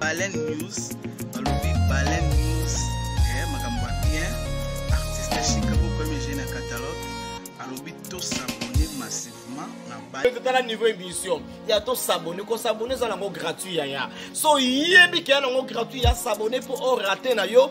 Baleine News balobi Baleine News eh, makambo ya bien artiste Chicago premier jeune ya catalogue alobi tosabone massivement na batala niveau émission ya tosabone kosabone eza nango gratuit yaya so oyebi keya nango gratuit ya sabone mpo orate na yo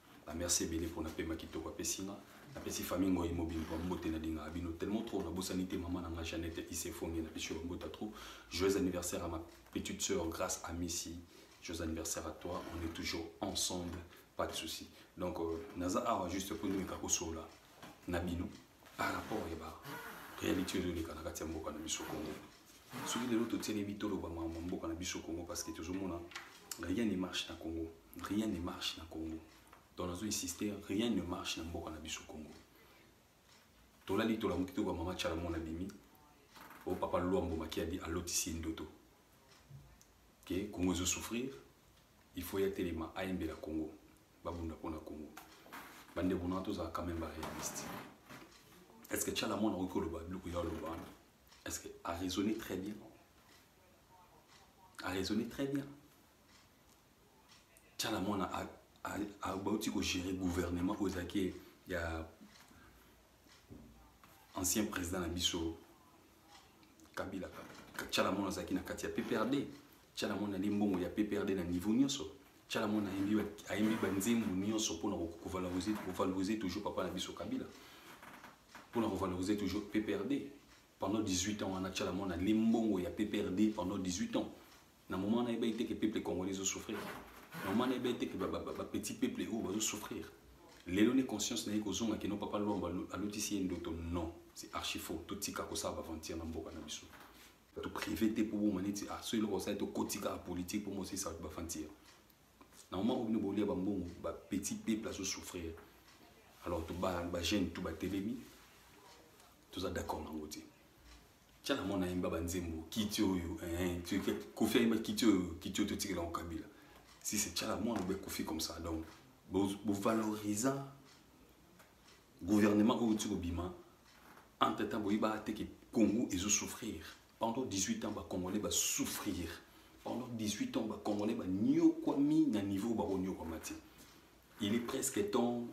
ba merci ebele mpo na pema kitoko apesi nga napesi famille ngoi mobimba bambote nalingaka bino tellement trop nabosani te mama na nga jeannette isefonge na biso bambota trop joyeux anniversaire à ma petite sœur grâce à misi joyeux anniversaire à toi on est toujours ensemble pas de souci donc euh, naza awa juste mpo nimeka kosola na bino par rapport ya ba réalité ezoleka na kati ya mboka na biso congo soki lelo totieli bitolo bamama mboka na biso congo parce que tozomona rien ne marche na congo rien ne marche na congo donc nazo insister rien ne marche na mboka na biso congo tolali tolamuki toyoka mama chalamo na bimi o papa luambo makiadi alotisi ye ndoto ke congo ezo souffrir il faut ya telema ayembela congo babunda mpo na congo bandeko na tozala quand même baréaliste est ce que chalamo nakoki koloba biloko ya oloba wana est ce que araisonne très bien araisonne très bien tshala mwana abauti kogere gouvernement oyo ezalaki ya ancien président na biso kabila tshala mwana azalaki na kati ya pprd tshala mwana ali mbongo ya pprd na niveau nyonso tshala mwana ayembi banzembo nyonso mpona kovaloriser toujours papa na biso kabila mpona kovaloriser toujours pprd pendant 18 ans wana tshala mwana ali mbongo ya pprd pendant 18 ans na moment na yebaki te ke peuple congolais ezo souffrir na moment na yebaki te ke bapetit peuple oyo bazo souffrir lelo nde conscience na ye kozonga kino papa lwambo alotisi ye ndoto non c'est archi faux totika kosala baventure na mboka na biso to privé te mpo boma neti ah, so eloko osali tokotika politique mpo mosisa bato baventure na moment oyo bino bolia bambongo bapetit peuple azo souffrir alors bajeune to batelemi toza d'accord nango te tya na mwana ayemba banzembo kiti oyo kofi ayemba kiti oyo kiti oyo totikela yango kabila si c'est tya na mwana obe kofi comme ça donc bovalorisa gouvernement oyo ti kobima entre temps boyeba te ke congo ezosouffrir pendant 18 ans bacongolais basouffrir pendant 18 ans bacongolais banyokwami na niveau bakonyokwama te il est presque temps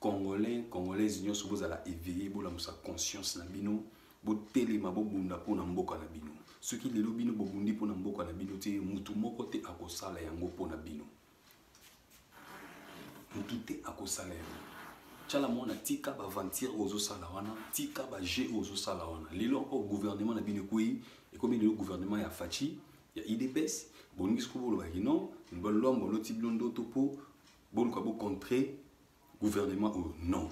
Congolais, Congolaise nyoso bozala éveillé, bolamusa conscience na bino, botelema bobunda mpo na mboka na bino. Soki lelo bino bobundi mpo na mboka na bino te, mutu moko te akosala yango mpo na bino. Mutu te akosala yango. Chala mwana tika ba aventure ozosala wana, tika ba jeu ozosala wana. Lelo encore gouvernement na bino ekwei, ekomi lelo gouvernement ya Fatshi, ya IDPS, bolingi sikoyo bolobaki non, balombo loti bino ndoto mpo boluka bo contrer gouvernement oyo non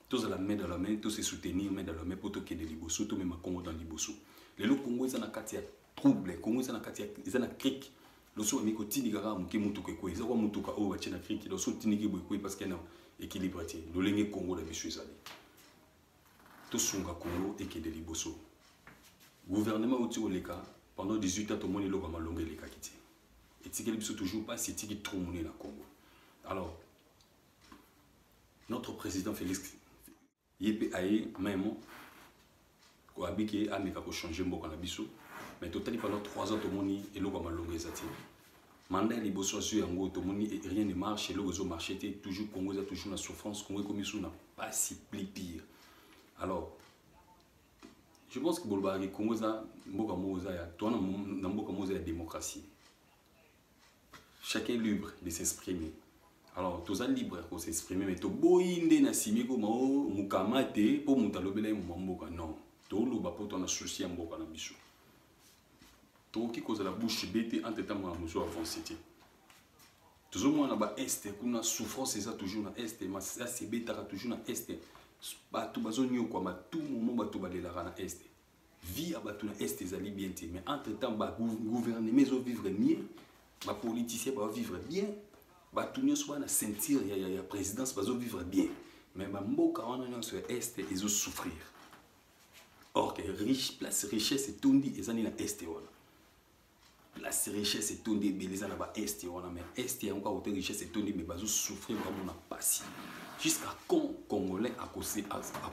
tozala main dans la main to se soutenir main dans la main mpo tokende liboso tomema congo dans liboso lelo congo eza na kati ya trouble congo eza na kati ya eza na crique loso bameki kotindika kaka moke motuka ekwei eza kwa motuka oyo batye na crique loso otindiki boye ekwei parce que na équilibre te lolenge congo na biso ezali tosunga congo ekende liboso gouvernement outi koleka pendant 18 ans tomoni eloko ya malonga elekaki te etikeli biso toujours mpasi etiki trop monene na congo alors notre président félix ye mpe aye memo abiki ameka kochange mboka na biso mais totali pendant 3 ans tomoni eloko ya malonga eza te manda ya liboso azwi yango tomoni e, rien ne marche eloko ezo marche te toujours congo eza toujours na souffrance congo ekomi so na mpasi pli pire alors je pense que bolobaka ke congo eza mboka moko eza ya toana na mboka moko eza ya démocratie chacun libre de s'exprimer alors toza libre ya kosexprimer mais toboyi nde na simi koma o oh, mokama te mpo moto alobela ye moma mboka non toloba mpo toana susi ya mboka na biso tokoki kozala bouche be te entre ntango na mosu avance te tozomona ba este kuna souffrance eza toujours na este masasi ebetaka toujours na este bato bazonyokwama tout moment bato balelaka na este vie ya bato na este ezali bien te mais entre temps bagouvernement ezovivre mieux bapoliticien baovivre bien bato nyonso bana ceinture ya, ya, ya présidence bazovivre bien mais bamboka wana nyonso ya este ezosouffrir or que riche place richesse etondi ezali na este wana la richesse etondi ebele eza na ba est wana mais est yango kaka kote richesse etondi mais bazo souffrir vraiment na pasi jusqu'à quand congolais ako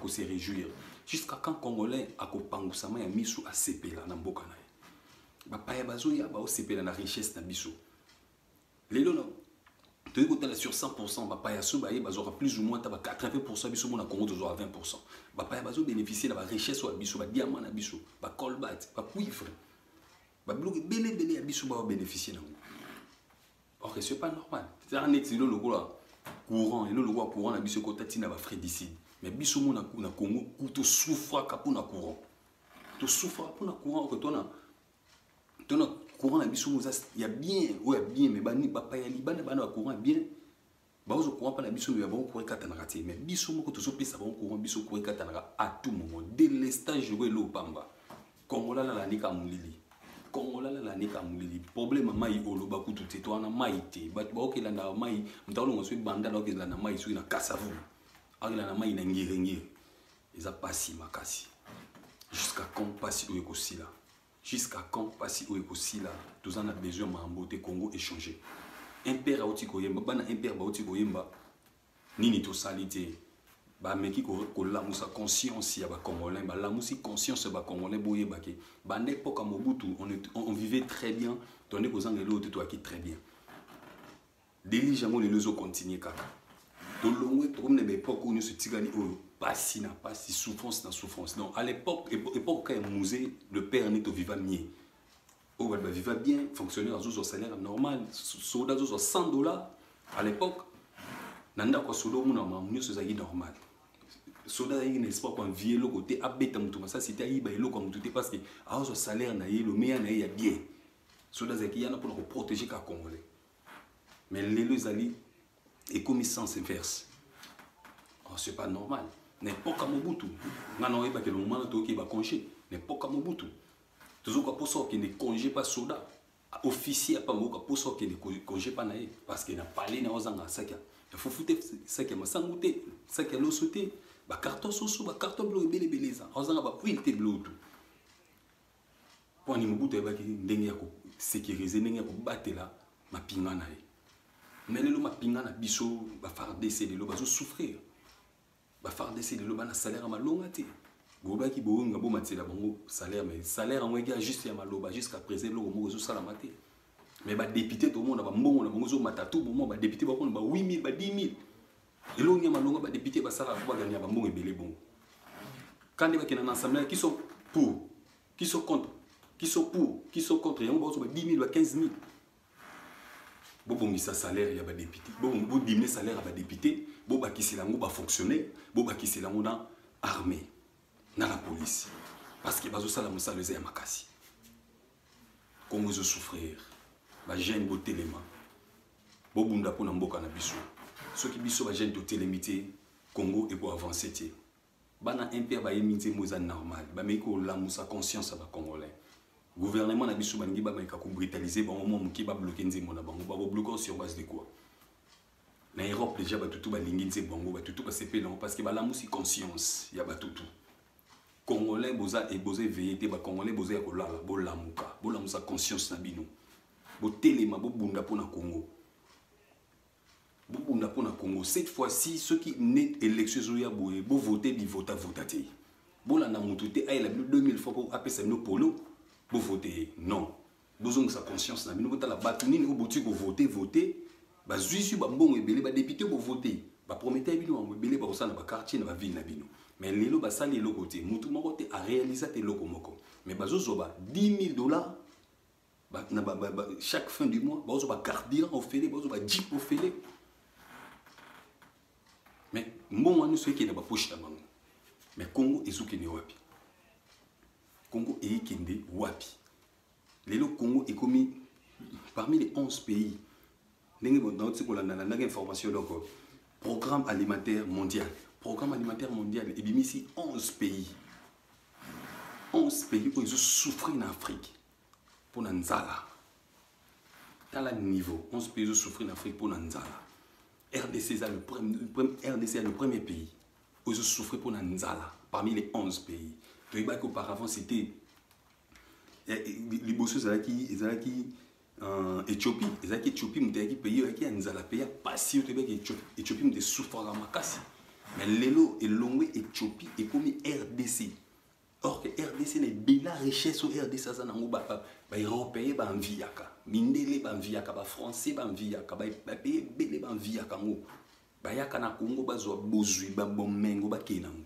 se réjouir jusqu'à quand congolais akopangusama ya misu asepela na mboka na ye bapaya bazoya baosepela na richesse na biso lelo na toyei kotala sur 100 bapaya so baye bazwaka plus ou moins ta ba 80 biso mona congo tozwaka 20 bapaya bazobénéficie na barichesse oyo ya biso badiama na biso bacolbat bacuivre babiloko ebele ebele ya biso babénéficie nango or que ce pas normal ezaka neti elo lokola courant elo lokola courant na biso ekota ntina bafredicide mais biso mona na congo tosouffraka mpo na courant tosouffraka mpo na courant or que tona tona courant na biso oyo ya bien oyo ya bien me bapaya libanda bana ba courant ya bien baozo courant mpa na biso me ya bango courant ekatanaka te me biso moko tozopesa bango courant biso courant ekatanaka à tout moment delestage oyo elo opamba kongola lalandika molili kongola lalandika molili problème mai oloba kutu te to wana mai te bato baokelanda mai moto akolonga soki banda na okelanda mai soki na kasavulu akelanda mai na ngirengire eza pasi makasi jusqu'à quand pasi oyo ekosila jusqu'à quand pasi oyo ekosila toza na besoin mambo te congo échanger impere auti koyemba bana impere bauti koyemba nini tosali te bameki kolamusa conscience ya bacongolais balamusi conscience ya bacongolais boyeba ke banda epoka mobutu on, on vivait très bien tonde kozanga eloko te toyaki très bien delige yango lelo ezo continue kaka tolongwe tokomi na baepoke oyo nyonso etikali oyo pasi na pasi souffrance na souffrance donc à l'époque époque ka ya musée le père nito viva mie oyo bato baviva bien fonctionnaire azozwa salaire normal soda azozwa 100 dollars à l'époque na ndako ya soda omona mamu nyonso ezalaki normal soda azalaki na espoir koanvie eloko te abeta moto masasi te ayiba eloko ya moto te parce que azozwa salaire na ye lomeya na ye ya bien soda azalaki yana mpona koprotege ka congolais mais lelo ezali ekomi sens inverse oh, c'est pas normal na epoka mobutu ngai na oyebaki elongo mana toyoki baconge na epoka mobutu tozoka mposa okende conge pa soda officier apa moyoka mposa okende conge pa na ye parce que na palais na ozanga saki ya fufu te saki ya masangu te saki ya loso te bacarton soso bacarton bilo ebele ebele eza ozanga bapuile te bilo tu mpo ani mobutu ayebaki ndenge ya kosekirize ndenge ya kobatela mapinga na ye me lelo mapinga na biso bafardc lelo bazosouffrir bafardc lelo bana salaire ya malonga te bolobaki boyonga bomatela bango salaire mais salaire yango eki ya juste ya maloba jusqu'à présent eloko moko ezosalama te mais badepute tomona bambongo na bango ezomata to bomoi badepute bakona ba 8000 ba 10 000 elongi ya malonga badepute basalaka mpo balandela bambongo ebele bongo kande bakenda na assemblée qui sont pour qui sont contre qui sont pour qui sont contre yango baozo ba 10 000 ba 15 000 bobongisa salaire ya badepute bodiminue salaire ya badepute bobakisela yango bafonctionnaire bobakisela yango na armée na la police parce que bazosala mosala eza ya makasi Congo ezo souffrir ba jeune botelema bobunda mpo na mboka na biso soki biso ba jeune totelemi te Congo eko avancer te bana mpe bayemi nzembo eza normal bameki kolamusa conscience ya bacongolais gouvernement na biso balingi bameka kobritalise bango mwa moke babloke nzembo na bango bakobloke sur base de quoi na europe déjà batutu balingi nzembo yango batutu basepeli yango parce que balamusi conscience ya batutu congolais boza et boza éveillé te ba congolais boza ya kolala bolamuka bolamusa conscience na bino botelema bobunda mpo na congo bobunda mpo na congo cette fois ci soki ne élection ezoya boye bovote bivota vota te bolanda motu te ayela bino 2000 fois mpo apesa bino polo bovote ye non bozongisa conscience na bino botala bato nini oyo boti kovote vote bazwisi bambongo ebele badepute bovote baprometaki bino bango ebele bakosala na baquartier na bavile na bino mais lelo basali eloko te motu moko te arealisa te eloko moko mais bazozwa ba 10 000 dollars ba, na ba, ba, ba, chaque fin du mois bakozwa bacarburant ofele bakozwa bajip ofele mais mbongo wana nyonso ekende bapoche na bango mais congo ezokende wapi Congo eyekende wapi lelo Congo ekomi parmi les 11 pays ndenge naotisi kolanda na ndenge information eloko programme alimentaire mondial programme alimentaire mondial ebimisi 11 pays 11 pays oyo ezosouffrir na afrique mpo na nzala tala niveau 11 pays ezosouffrir na afrique mpo na nzala rdc eza le, rdc ya le premier pays oyo ezo souffrir mpo na nzala parmi les 11 pays toyebaki auparavant c'était eh, eh, liboso ezalaki ezalaki euh, ethiopie ezalaki ethiopie moto eyaki pays oyaki ya nzala pays ya pasi oyo toyebaki ethiopie moto esouffraka makasi mais lelo elongwe ethiopie ekomi rdc or que rdc na ebela richesse oyo rdc aza nango baeuropéen banviyaka mindele banviyaka bafrançais banviyaka bapaye ebele banviyaka yango bayaka na congo bazwa bozwi babomengo bakei nango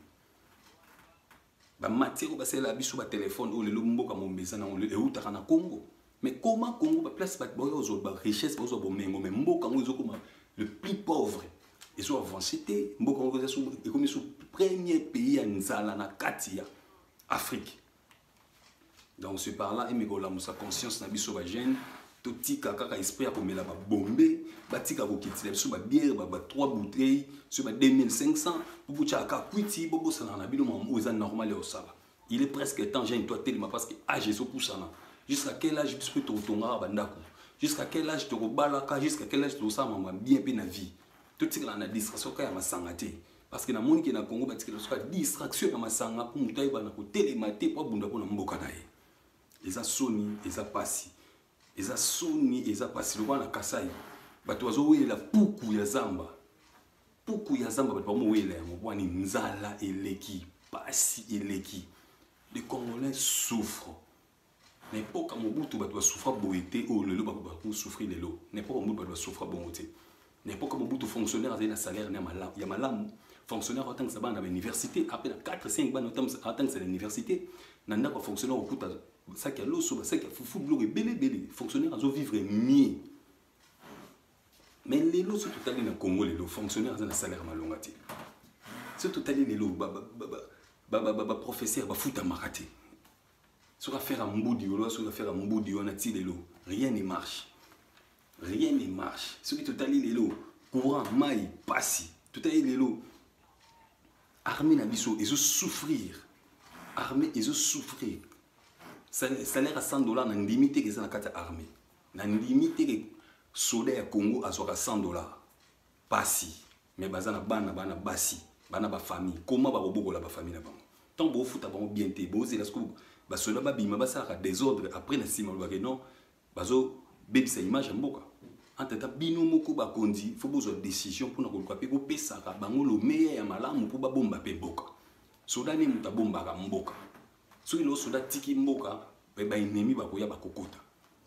bamatiere oyo basalela biso batelefone oyo lelo mboka mombe eza nango eutaka na congo mais koma congo baplace bato baoya ozwa barichesse bazwa bomengo mais mboka yango ezokoma le plus pauvre ezo avance te mboka yango ekomi so premier pays ya nzala na kati ya afrique donc ce par là emeka olamusa conscience na biso bagene totika kaka esprit ya komela babombe batika kokitila biso babiere ba 3 bouteille soki ba 2500 bobotyaka kaka kwiti bobosanaka na bino mamo oyo eza normal ya kosala il est presque temps jeune toi telema parce que age ezopusana jusqu'à quel âge biso mpe tokotongaka bandako jusqu'à quel âge tokobalaka jusqu'à quel âge tokosala mama bien mpe na vie totikala na distraction kaka ya masanga te parce que namoni ke na congo batikela soka distraction ya masanga mpo moto ayeba na kotelema te mpo abunda mpo na mboka na ye eza soni eza pasi eza soni eza pasi lokola na kasai bato bazowelela puku ya zamba puku ya zamba bato bamowelela yango bwani nzala eleki pasi eleki les congolais souffre na epoka mobutu bato basouffra boye te oyo lelo bakosouffri lelo na epoka mobutu bato basouffra bongo te na epoka mobutu fonctionnaire azali na salaire ya malamu fonctionnaire aotangisa bana na bauniversité ape na 4 5 bana aotangisa na université na ndako ya fonctionnaire okuta basaki ya loso basaki ya fufu biloko ebele ebele fonctionnaire azovivre mieux mais lelo soki totali na congo lelo fonctionnaire aza na salaire malonga te soki totali lelo baprofesseur bafutamaka te soki afera mbudi oloba soki afera mbudi wana ti lelo rien ne marche rien ne marche soki totali lelo courant mai pasi totali lelo armée na biso ezo souffrir armée ezo souffrir salaire ya 100 dollar na ndimi te eza na kati ya armée na ndimi te soda ya congo azwaka 100 dollar pasi mais baza na bana bana basi bana ba famille comment ba kobokola ba famille na bango tant bo futa bango bien te bo zela siko ba soda ba bima ba sala désordre après na sima ba que non bazo bebisa image mboka entre temps bino moko ba konzi faut bozwa décision pour na koluka pe ko pesaka bango le meilleur ya malamu pour ba bomba pe boka soda ne muta bombaka mboka soki lelo soda tiki mboka eh, baennemi bakoya bakokota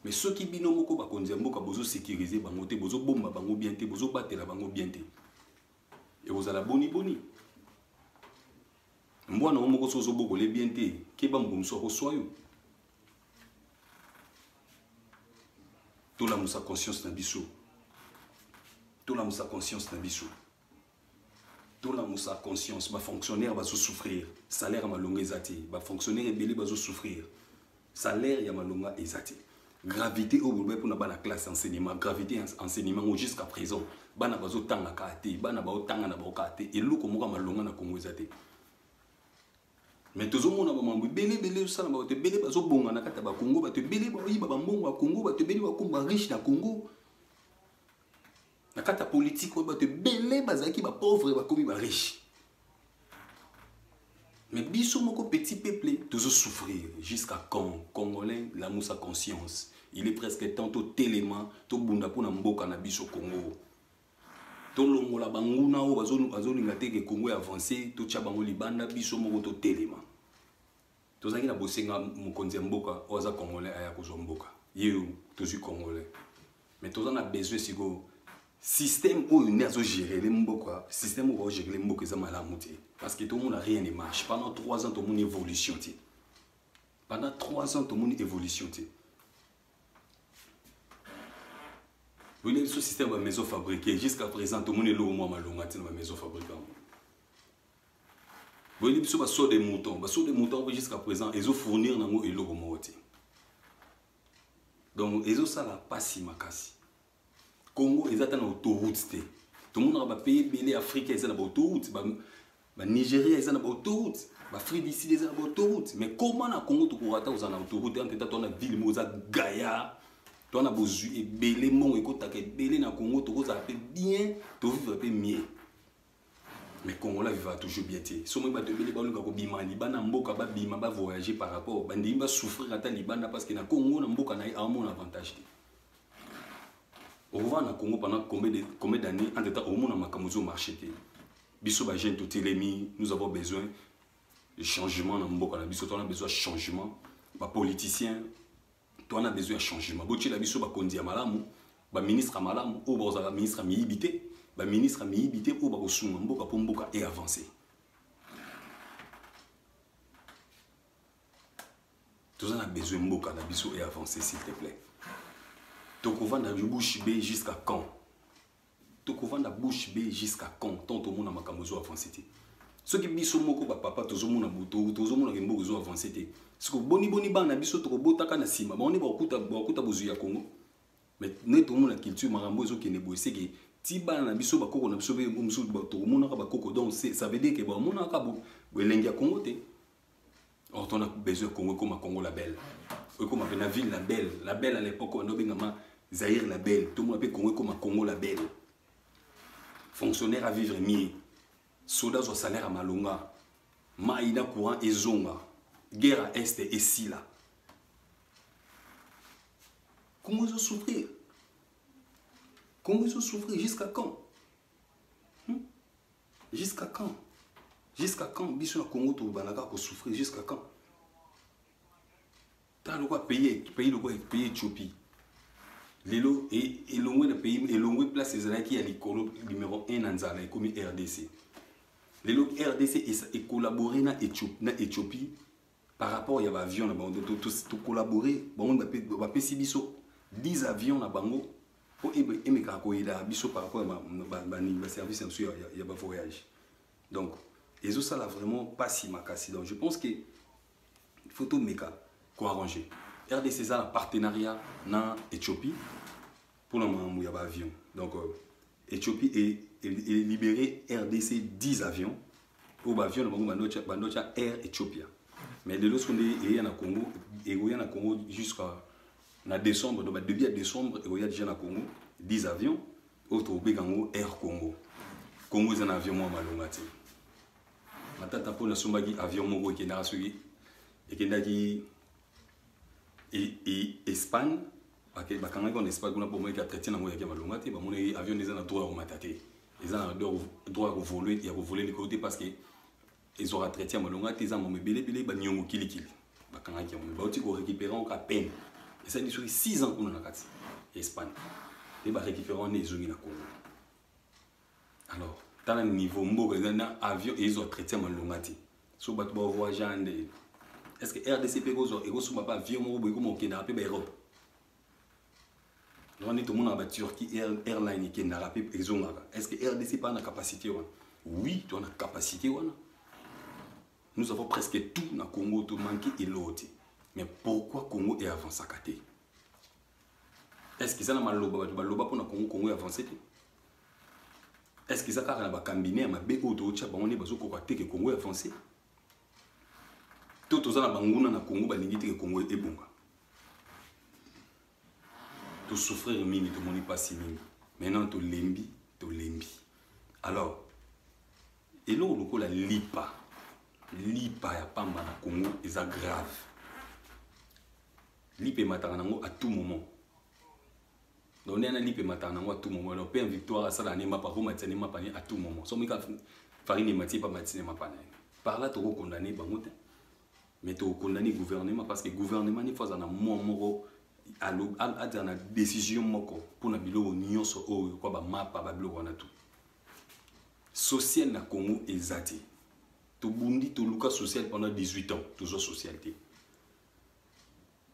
me soki bino moko bakonzi ya mboka bozosekirize bango te bozobomba bango bien te bozobatela bango bien te ekozala boni boni mbwa na yo moko soki ozobokole bien te keba moko mosusu akoswa yo tolamusa conscience na biso tolamusa conscience na biso tolamusa conscience bafonctionnaire bazosouffrir salaire ya malonga eza te bafonctionnaire ebele bazosouffrir salaire ya malonga eza te gravité oyo bolobaki mpona bana classe enseignement gravité ya enseignement yango jusqu'à présent bana bazotanga kaa te bana baotanga na bango kaa te eloko moko ya malonga na kongo eza te mais tozomona bamambo ebele ebele osala bato ebele bazobonga na kati ya bakongo bato ebele baoyiba bambongo ya kongo bato ebele bakomba riche na kongo na kati ya politike oyo bato ebele bazalaki bapauvre bakomi bariche mais biso moko petit peuple tozo souffrir jusqu'à quand congolais lamusa conscience il est presque temps totelema tobunda mpo na mboka na biso congo tolongola banguna oyo bazolinga te ke congo ya avance totya bango libanda biso moko totelema tozalaki na bosenga mokonzi ya mboka oyo aza congolais aya kozwa mboka ye tozwi congolais mais toza na besoin sikoyo système oyo nde azogérele mboka système oyo baogérele mboka eza malamu te parce que tomona rien ne marche pendant 3 ans tomoni évolution te pendant 3 ans tomoni évolution te boyina biso système ya maison fabriqué jusqu'à présent tomoni eloko mwa malonga te na bamaison fabriqué yango boyebi biso baso de mouton baso de mouton mpe jusqu'à présent ezo fournir nango eloko moko te donc ezosala mpasi makasi congo eza ata na autoroute te tomonaka bapays ebele afrika eza na baautoute banigeria eza na baautoute baafrique du sud eza na baautoute mais koma na congo tokoka ata kozala na autoroute ante ta to na ville moko eza gaya to na bozwi ebele mbongo ekotaka ebele na congo tokozala mpe bien tovivre mpe mieux mais congolais vivaka toujours bien te soki bato ebele baluka kobima libanda mboka babima bavoyage par rapport bandimi basouffrir ata libanda parce que na congo na mboka na ye aomona avantage te okovaa na congo pendant combien d'année en temps omona makambo ezo marché te biso bajeune totelemi nous avons besoin de changement na mboka na biso tona besoin changement bapoliticien to wana besoin ya changement botyela biso bakonzi ya malamu baministre ya malamu oyo bakozala ministre ya miyibi te baministre ya miyibi te oyo bakosunga mboka mpo mboka e avance toza na besoin mboka na biso e avance s'il te plaît tokovanda bushi be jusqu'à quand tokovanda bouche be jusqu'à quand tant tomona makambo ezo avance te soki biso moko bapapa tozomona tozomona ke mboka ezo avance te siko boniboni bana biso tokobotaka na nsima bango nde bakokuta bozwi ya kongo mais nde tomona culture makambo ezokende boye seke ti bana na biso bakoko na biso mpe mosusu tokomonaka bakoko donc ça veut dire ke bamonaka elengi ya kongo te or tona besoin congo ekoma congo la belle ekoma mpe na ville la belle la belle à l'époque wana obengama zaire la belle tomona mpe congo ekoma congo la belle fonctionnaire à vivre mieux soda azwa salaire ya malonga mai na courant ezonga guerre à est esila congo ezosouffrir congo ezosouffrir jusqu'à quand Jusqu'à quand Jusqu'à quand biso na Congo tokobanda kaka kosouffrir jusqu'à quand tala lokwa pays pays lokwa pays Ethiopie lelo e, elongwe na pays elongwe place ezalaki ya likolo numero 1 na nzala ekomi rdc lelo rdc ecollabore na, Ethiopie, na ethiopie par rapport ya ba avion na bango to collaborer bango ba pesi biso 10 avions na bango po emekaka koyela biso par rapport ya ba service na ya, ya ba voyage donc ezo sala vraiment pas si makasi donc je pense que il faut tout meka ko arranger RDC eza na partenariat na Ethiopie Pour la makambo ya ba avion. Donc euh, Ethiopie est, est, est libéré RDC 10 avions pour ba avion na bango bando tya- bando tya Air Ethiopia. Mais lelo soko nde eya na Congo ekoya na Congo jusqu'à na décembre donc ba début ya décembre ekoya déjà na Congo 10 avions oyo tokobeka yango Air Congo. Congo eza na avion mwa malonga te. matata mpo nasombaki avion moko ekendaka soki ekendaki espagne bakangaki wana espagne kuna bomoyeki atraite nango yaki malonga te bamonaki avion eza na droit ya komata te eza na droit ya kovole likolo te parce que ezwaka traite ya malonga te eza mama ebelebele baniongo kilikili bakangaki yango bauti korécupere yango ka peine esali soki 6 ans kuna na kati ya espagne nde barécupere wana ezongi na congo alors tala niveau mboka eza na avion ezwa traité malonga te so bato bavoyage ya nde est ce que rdc mpe ekozwa ekosomba mpe avion moko boye ekoma okendaka mpe baeurope yango nde tomonaka baturquie airline ekendaka mpe ezongaka est ce que rdc mpe ana capacité wana oui toa na capacité wana nous avons presque tout na congo tomanke eloo te mais pourquoi congo eavansaka te est-ce eza na maloba bato baloba mpona kongo kongo ya avance te est-ce eza kaka na bakambine ya mabe oyo tootya bango nde bazokoka te ke kongo ya avance to toza na banguna na kongo balingi te ke kongo ebonga tosouffrir mingi tomoni mpasi mingi maintenant tolembi tolembi alors eloko lokola lipa lipa ya pamba na kongo eza grave lipe emataka nango à tout moment donc nde na lipe emataka nango à tout moment donc pm victoire asala ne mapa komatisa ne mapa ne à tout moment so mika farine emati epa matisi ne mapa na ye par là tokokondane bango te mais tokokondane gouvernement parce que gouvernement nifo aza na mwa moko azala na décision moko mpona biloko nyonso oyo kwa bamapa babiloko wana tout social na congo eza te tobundi toluka social pendant 18 ans tozwa social te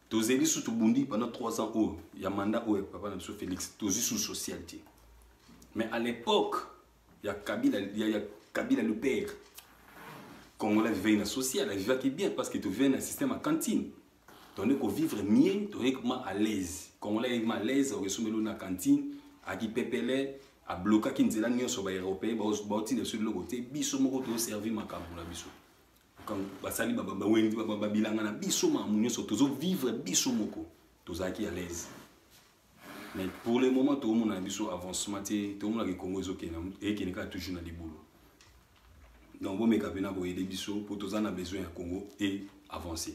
tozeli susu tobundi pendant 3 ans oyo ya mandat oyo papa na biso félix tozwi susu social te mais à l'époque ya kabila ya, ya kabila le père congolais vivaki na social avivaki bien parce que tovivaki na système ya cantine tozali kovivre mieux tozali koma à l'aise congolais ayaki ma à l'aise okesomeli na cantine aki pepele ablokaki nzela nyonso baeuropéen baotinda biso biloko te biso moko toservi makambo na biso basali bawenzi babilanga na biso mamu nyonso tozovivre biso moko tozalaki à l'aise mais pour le moment tokomona na biso avancement te tokomonaka ekongo ezokende kaka toujours na libulu donc bomeka mpena koyede biso mpo toza na besoin ya congo e avancer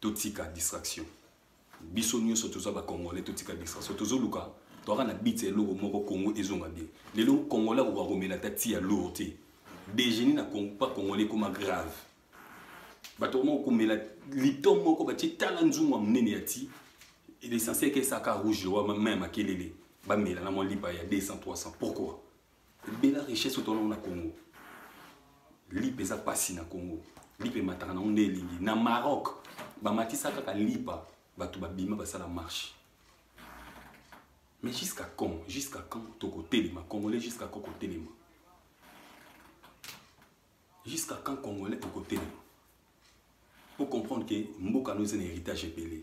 totika distraction biso nyonso toza bacongolais totika distraction tozoluka toyaka na bit ya eloko moko congo ezonga bien lelo congolais akoka komela ata ti ya lour te dejeuner na pa congolais ekoma grave bato komoko komela lito moko batie tala nzungu ya monene ya ti l'essentiel ke esaka rouge wa mai ya makelele bamela na mwa lipa ya 200 300 pourquoi bela richesse oyo toanango na congo lipa eza mpasi na congo lipa emataka nango nde elingi na maroc bamatisa kaka lipa bato babima basala marche mais jusqu'à quand jusqu'à quand tokotelema congolais jusqu'à quand kotelema jusqu'à quand congolais tokotelema po comprendre ke mboka no eza na héritage ebele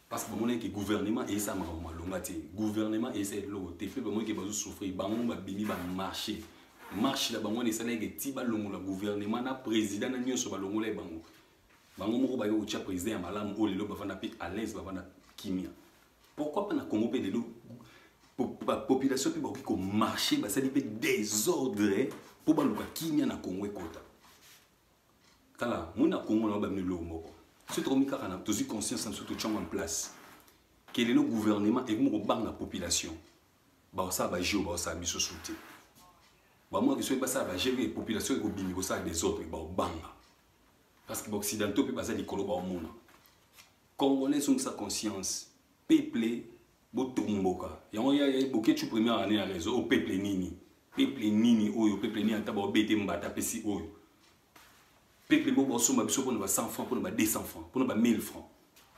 parce que bamonaki ke gouvernement eyesa makambo malonga te gouvernement eyesa eloko te mpe bamonaki bazo souffrir bango babimi bamarche marche na bango wana esalaki ke ti balongola gouvernement na président na nyonso balongolaki bango bango moko baye kotya président ya malamu oyo lelo bavanda mpe à l'aise bavanda kimia pourquoi pas na congo mpe lelo population mpe bakoki komarche basali mpe désordre mpo baluka kimia na congo ekota tala moni na congo nao bamino eloko moko soki tokomi kaka na tozwi conscience na biso totyango en place ke lelo gouvernement ekomi kobanga population bakosala bajeo bakosala biso su te bamwaki soki basala bajeo e population ekobimi kosala desordre bakobanga parce que baoccidentaux mpe baza likolo baomona congolais ezongisa conscience peuple botomboka yango ya boketshu première année ya réseau o peuple nini peuple nini oyo peuple nini ata baobete mbata apesi oyo peuple moko baosomba biso mpona ba 100 franc mpona ba 200 franc mpona ba 1000 franc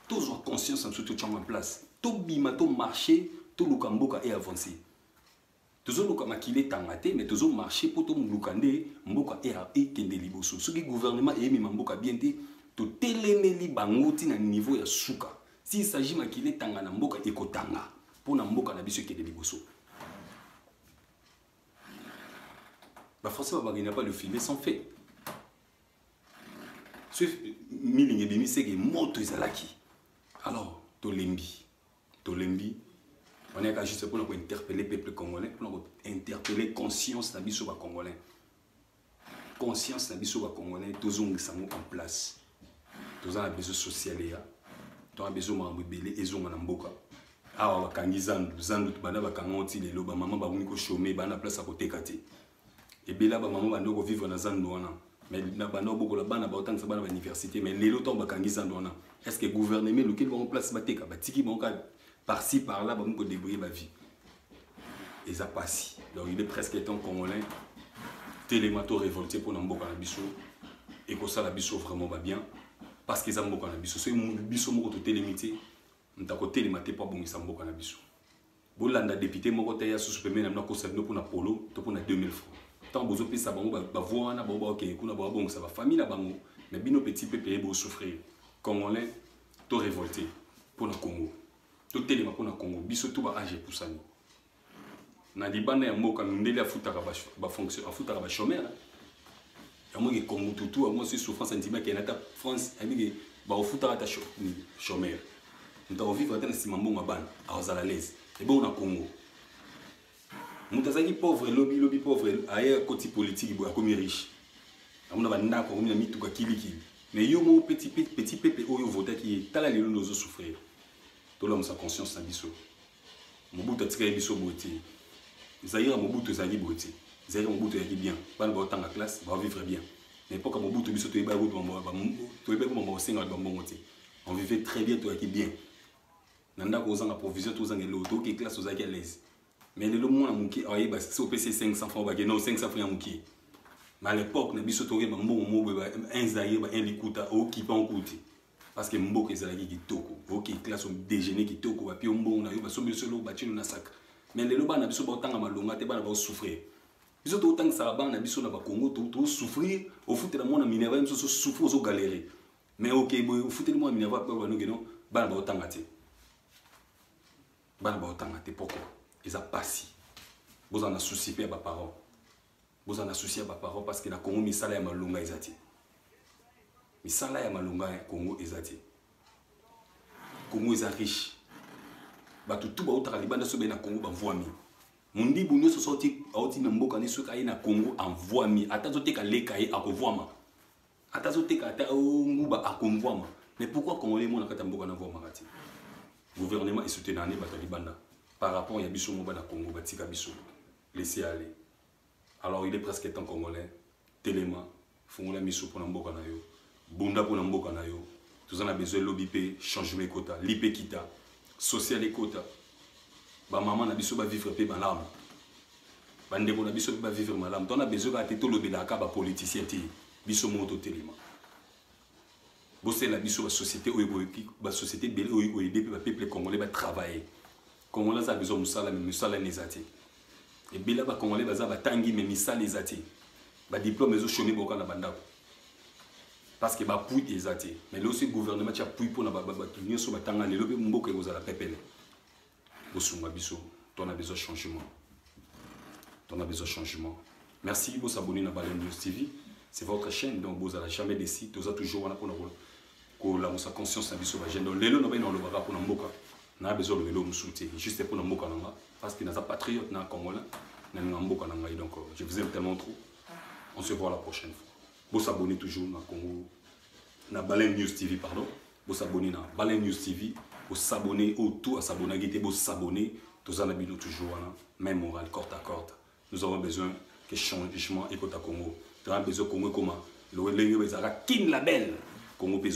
tozwa conscience na biso totyango en place tobima tomarche toluka mboka e avance tozoluka makili etanga te mais tozomarche mpo toluka nde mboka ekende e liboso soki gouvernement eyemema mboka bien te totelemeli bango ntina niveau ya suka s'il s'agit makili etanga na mboka ekotanga mpo na mboka na biso ekende liboso Ba Français babanga n'a pas le filmer sans fait. Ce milingi ebimi seke moto ezalaki. Alors tolembi, tolembi. On est juste pour interpeller le peuple congolais, pour interpeller conscience na biso ba congolais. conscience na biso ba congolais tozongisa yango en place toza na besoin social eya toza na besoin makambo ebele ezonga na mboka awa bakangi zandu zandu banda bakanga ngo ti lelo bamama bakomi koshome baa na place ya koteka te ebela bamama banda kovivre na zandu wana mais na banda obokola bana baotangisa bana ba université mais lelo ntango bakangi zandu wana est ce que gouvernement elukeli bango place bateka batiki bango kaka par ci par là bakomi kodebrouille bavie eza pasi donc il est presque étant congolais telema to révolte mpona mboka na biso ekosala biso vraiment babien parce que eza mboka na biso soki biso moko totelemi te moto akotelema te mpo abongisa mboka na biso bolanda depute moko te ya susu pembeni na bino akosa bino mpona polo to mpona 2000 francs ntango bozopesa bango bavoi wana bango bakokende kuna babongisa bafamille na bango mais bino petit peuple ye bosouffrir congolais to révolte mpona congo totelema mpo na congo biso to ba age epusani na libanda ya mboka mindele afutaka bafonction afutaka bachomere yango ke congo tutu yango si souffrance andimi akende ata france ayebike bakofutaka ata chomere moto akovivre ata na nsima mbongo ya bana akozala lese ebongo na congo moto azalaki pauvre lobi lobi pauvre aye akoti politiki boye akomi riche akomi na bandako akomi na mituka kilikili mais yo moko petit petit pepe oyo ovotaki ye tala lelo nde ozo souffrir tolamusa conscience na biso mobutu atikaki biso boye te zaire mobutu ezalaki boye te zaire mobutu ezalaki bien bana baotanga classe baovivre bien na epoka mobutu biso toyebaki kutu toyebaki mama osengaka bambongo te on vivait très bien toyaki bien na ndako ozanga provision to ozanga eloko toke classe ozalaki à l'aise mais lelo mwana moke ayeba si opesi 500 francs obake no 500 francs ya moke mais à l'époque na biso toyeba mbongo moko boye ba un zaire ba un likuta okipa okuti parce que mboka ezalaki kitoko oke classe odejeuner kitoko bapio mbongo na yo basombi biso eloko batino na saka mais lelo bana na biso baotanga malonga te bana baosouffrir biso totangisaka bana na biso na bakongo tosouffrir ofutela mwana minerval biso tosouffrir ozogalere mais oke boye ofuteli mwa minerva mpe baloba noke no bana baotanga te bana baotanga te poko eza mpasi bozala na susi mpe ya baparent bozala na susi ya baparent parce que na congo misala ya malonga eza te misala ya malonga ya congo eza te congo eza riche bato tu bautaka libanda soki baye na congo bavwami mondibu nyonso soki auti na mboka ni soki aye na congo avwami ata azoteka leka ye akovwama ata azoteka ata oh, nguba akonvwama mais pourquoi congolais emona kati ya mboka na vwamaka te gouvernement esutena ane bato ya libanda par rapport ya biso moba na congo batika biso laisser aller alors il est presque temps congolais telema fungola miso mpo na mboka na yo bunda mpo na mboka na yo toza na besoin lobi mpe changement ekota lipe kita social ekota bamama na biso bavivre mpe malamu bandeko na biso mpe bavivre malamu tona besoin kaka te tolobelaka bapoliticien te biso moko totelema bosalela biso basociété oyo basociété ebele oyo ekoyede mpe bapeuple congolais batravaille congolais aza besoin mosala me mosala ne eza te ebele bacongolais baza batangi me misala eza te badiplome ezoshome boka na bandako parce que bapui eza te mais lelo si gouvernement tya pui mpo na bato nyonso batanga lelo mpe mboka ekozala pepele bosunga biso tona besoin changement tona besoin changement merci bosabone na bale news tv c'est votre chaîne donc bozala jamais desi toza toujours wana mpona kolamusa conscience na biso bagene donc lelo nabai naolobaka mpona mboka na besoin olobelo mosusu te juste mpona mboka na nga parce que naza patriote na congolais nalinga mboka na ngai donc euh, je vous aime tellement trop on se voit la prochaine fois bosabone toujours na congo na baleine news tv pardon Bo s'abonner na Baleine News TV, bo s'abonner au tout à s'abonner gite bo s'abonner, tous à la bino toujours wana, même morale corte à corte. Nous avons besoin que changement et Congo. Nous avons besoin Congo comme le Wendenge Bezara King Label. Congo besoin